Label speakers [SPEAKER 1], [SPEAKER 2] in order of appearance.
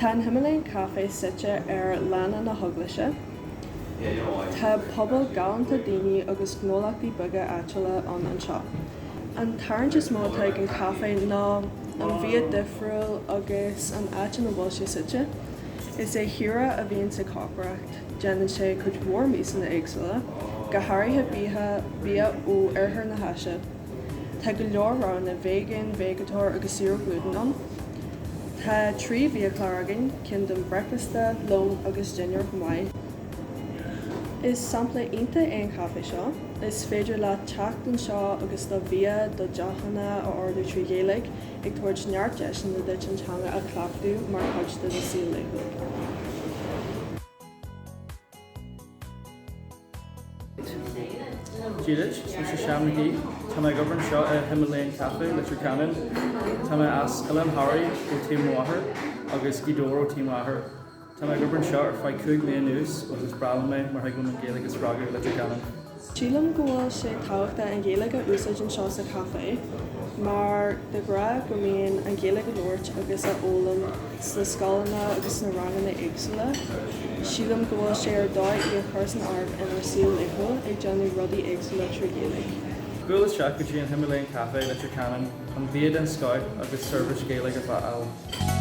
[SPEAKER 1] Tá an Himalayan Cafe suite ar Lána na hEaglaise. Tá pobal galánta daoine agus gnólachtaí beaga áitiúla ann anseo. An tarraingt is mó atá ag an caifé ná an bia difriúil agus an áit ina bhfuil sé suite. Is é Hira a bhíonn ag cócaireacht, déanann sé cuid mhór miasanna éagsúla, go háirithe bia ó oirthear na hÁise. Tá go leor roghanna veigéin, veigeatóir agus saor ó ghlútan ann. Tá trí bhiachlár againn, ceann don bhreicfeasta, lón agus dinnéar chomh maith. Is sampla iontach é an caifé seo, is féidir leat teacht anseo agus do bhia, do dheochanna a ordú trí Ghaeilge, ag tabhairt neart deiseanna duit an teanga a chleachtadh mar chuid de do saol laethúil.
[SPEAKER 2] Dia daoibh, is mise Seán Mac Aoidh. Tá mé ag obair anseo i Himalayan Cafe, Leitir Ceanainn. Tá mé as Oileán Thoraí ó taobh mo mháthar agus Gaoth Dobhair ó taobh m'athar. Tá mé ag obair anseo ar feadh cúig mbliain anuas agus is breá liom é mar thig liom an Ghaeilge a spreagadh i Leitir Ceanainn. Sílim
[SPEAKER 1] go bhfuil sé tábhachtach an Ghaeilge a úsáid anseo sa chaifé mar de ghrá go mbíonn an Ghaeilge a labhairt agus a fhoghlaim sna scoileanna agus sna ranganna éagsúla, sílim go bhfuil sé ar dóigh í a chur san áireamh inár saol laethúil, ag déanamh rudaí éagsúla trí Ghaeilge. Buail isteach
[SPEAKER 2] go dtí an Himalayan Cafe, Leitir Ceanainn, chun bia den scoith agus seirbhís Ghaeilge a fháil.